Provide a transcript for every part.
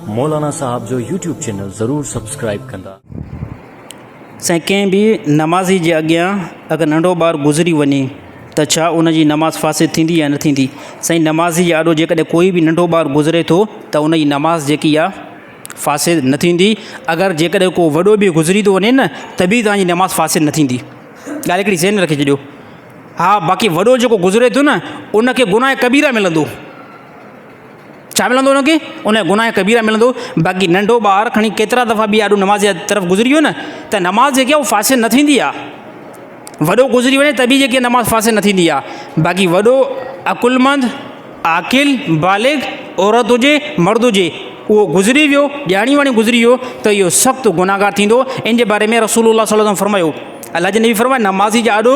مولانا صاحب جو YouTube channel ضرور سبسڪرائيب ڪندا. سائين ڪنهن به نمازي جي اڳيان اگر ننڍو ٻار گذري وڃي ته ڇا ان جي نماز فاسد ٿيندي يا نه ٿيندي؟ سائين نمازي جي آڏو جيڪڏهن ڪوئي به ننڍو ٻار گذري ٿو ته ان جي نماز جيڪي آ فاسد نه ٿيندي اگر جيڪڏهن ڪو وڏو به گذري ٿو وڃي نه ته به توهان جي نماز فاسد نه ٿيندي ڳالهه هڪڙي ذهن رکي ڇڏيو ها باقي وڏو جيڪو گذري ٿو نه ان کي گناهه ڪبيره ملندو. ڇا ملندو ان کي؟ انهيء گناهه ڪبيره ملندو، باقي ننڍو ٻار کڻي ڪيترا دفعا به آڏو نماز جي طرف گذري ويو نه ته نماز جيڪي آهي اها فاسد نه ٿيندي آهي. وڏو گذري وڃي ته به جيڪي نماز فاسد نه ٿيندي آهي. باقي وڏو عقلمند، عاقل، بالغ، عورت هجي، مرد هجي، اهو گذري ويو، ڄاڻي واڻي گذري ويو ته اهو سخت گناهگار ٿيندو. ان جي باري ۾ رسول الله صلي الله عليه وسلم فرمايو، الله جي نبي فرمايو، نمازي جي آڏو،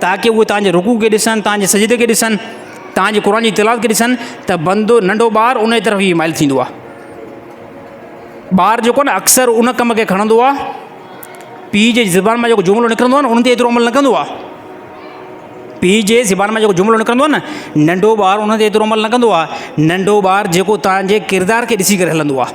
تاڪ اهي توهان جي رڪوع کي ڏسن، توهان جي سجدي کي ڏسن، توهان جي قرآن جي تلاوت کي ڏسن ته بندو، ننڍو ٻار، انهيء طرف ئي مائل ٿيندو آهي. ٻار جيڪو آهي نه اڪثر ان ڪم کي کڻندو آهي، پيء جي زبان مان جيڪو جملو نڪرندو آهي نه ان تي ايترو عمل نه ڪندو آهي. پيء جي زبان مان جيڪو جملو نڪرندو آهي نه ننڍو ٻار ان تي ايترو عمل نه ڪندو آهي. ننڍو ٻار جيڪو توهان جي ڪردار کي ڏسي ڪري هلندو آهي.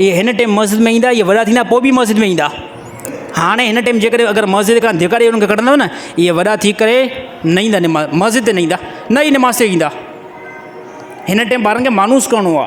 اهي هن ٽيم مسجد ۾ ايندا اهي وڏا ٿيندا پوء به مسجد ۾ ايندا هاڻي هن ٽيم جي ڪري اگر مسجد کان ڌڪاري انهن کي ڪڍندو نه اهي وڏا ٿي ڪري نه ايندا نماز مسجد تي نه ايندا نه اهي نماز تي ايندا هن ٽيم ٻارن کي مانوس ڪرڻو آ.